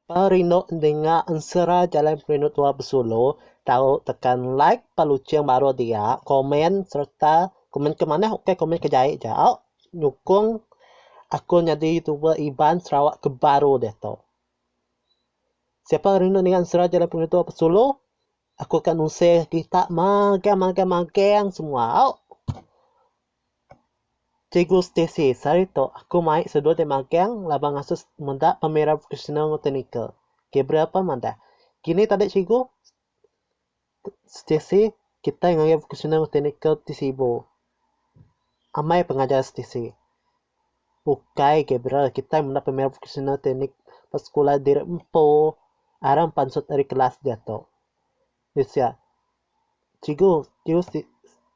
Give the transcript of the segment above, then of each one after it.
Perindu endinga ensera jalai perindu tua besulu tau tekan like peluching baru dia komen sereta komen ke manah ok komen ke jai ja au nyukong aku nyadi youtuber Iban Sarawak ke baru diatu. Siapa rindu ninga ensera jalai perindu tua besulu Aku ka nuseh kerita magang magang magang semua au. Cikgu Stacey, sehari tu aku mai seduai deh magang laban ngasuh meda pemera vocational enggau teknikal. Gabriel pun madah, Kini tadi cikgu, Stacey, kitai ngagai vocational enggau teknikal ti sibu. Amai pengajar setisi. Ukai agi bra kitai menda pemain profesional teknik ba sekula diri empu aram pansut ari kelas diatu. Di sia cikgu cikgu siti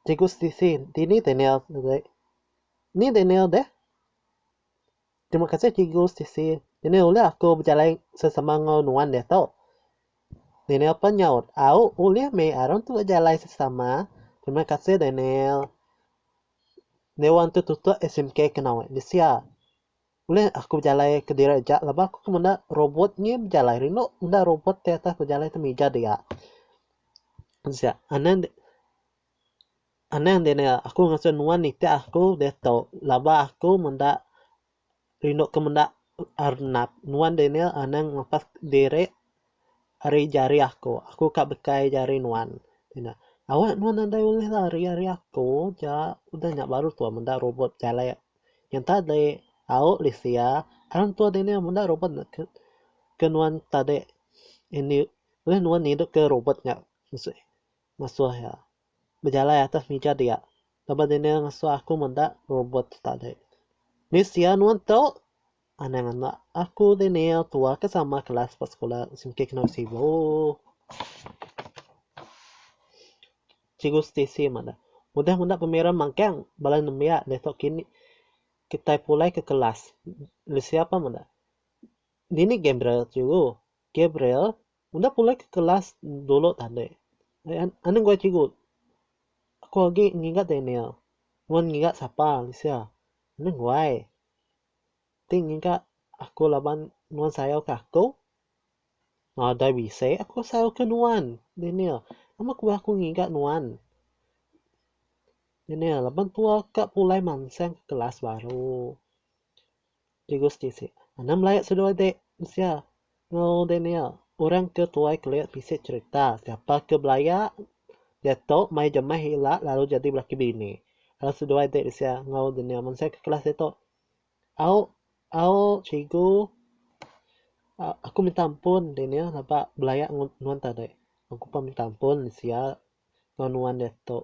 cikgu setisi dini Daniel deh. Ni Daniel deh? Terima kasih cikgu Stacey. Nenek ulih aku bejalai sesama enggau nuan diatu? Daniel pun nyaut, Au, ulih meh aron tu bejalai sesama. Terima kasih Daniel. Dewan tu tutup SMK ke nawi bisi iya. Ulih aku bejalai kediri aja laban aku ke menda robot ngi bejalai rindu menda robot ti atas bejalai atas mija dia. Anan. Anang dini aku ngasuh nuan nitih aku diatu laban aku menda rindu ke menda arnap. Nuan dini anang ngelepas diri ari jari aku. Aku ka bekai jari nuan. Awak nuan nadai ulih lari ari aku ja udah nya baru tuan meda rubut jalai yang tadi au lisia tang tuan dini meda rubut ke nuan tadi ulih nuan ngidup ke rubut nya ngasuh iya. Bejalai atas mija dia. Lebuh Daniel ngasuh aku meda robot tu tadi. Ni sia nuan tu? Anang anak aku Daniel tua ke sama kelas ba sekula Singkih Kenu Sibu. Cikgu Stacey madah. Udah meda pemira magang bala nembiak deh tu kini kitai pulai ke kelas. Ni sia pah meda. Dini Gabriel cikgu? Gabriel? Enda pulai ke kelas dulu tadi. Anang gua cikgu. Aku agi ngiga Daniel. Nuan ngiga sapa Alicia? Anang guai. Ti ngiga aku laban nuan sayau ke aku? Nadai bisi aku sayau ke nuan, Daniel. Nama ku aku ngiga nuan? Daniel, laban tua ka pulai mansang ke kelas baru. Di Gusti si. Anang belaya seduai de mensia enggau de nia. Orang ke tuai kelik bisi cerita. Siapa ke belaya diatu mai jemah ila lalu jadi belaki bini. Lalu seduai de mensia enggau de nia. Mensia ke kelas diatu au au cigu aku minta ampun de nia laba belaya enggau nuan tadi. Aku pun minta ampun mensia enggau nuan diatu.